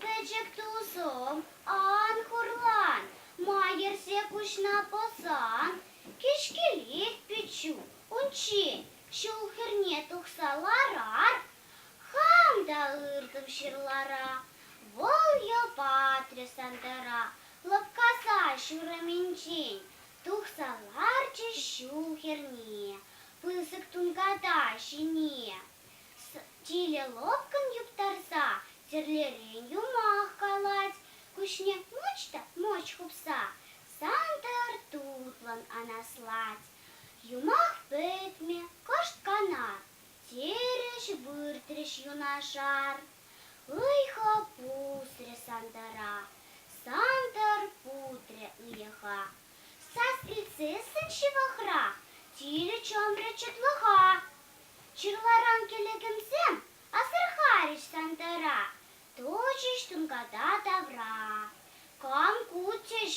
Пӗчӗк тусӑм, ан хурлан, ма йӗрсе куҫна пӑсан? Кӗҫкелех пиччӳ унччен ҫул хӗрне тухса ларар, хам та ыртӑм ҫырлара. Вӑл йӑл-патрӗ Сантӑра лӑпкаса ҫурӑмӗнчен тухса ларчӗ ҫул хӗрне пысӑк тунката ҫине. Тилӗ лӑпкӑн юптарса тӗрлерен юмах калать, куҫне мӑч та мӑч хупса Сантӑр тутлӑн анаслать. Юмах пӗтмӗ кӑшт-канат, терӗҫ выртрӗҫ юнашар. Ыйхӑ пусрӗ Сантӑра, Сантӑр путрӗ ыйӑха. Сасрицысын ҫывӑхра тилӗ чӑмрӗ чӑтлӑха. Чирларан кӗлӗкӗмсем асӑрхарӗҫ Сантӑра, Тӑчӗҫ тунката тавра. Кам куччӗҫ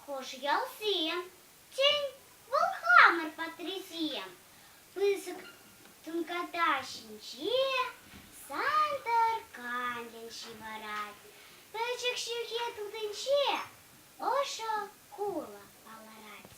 хӑш ялсем? Тен, вӑл хамӑр патрисем? Пысӑк тунката ҫинче Сантӑр канлӗн ҫывӑрать. Пӗчӗк ҫӳхе тутинче ӑшӑ кулӑ палӑрать.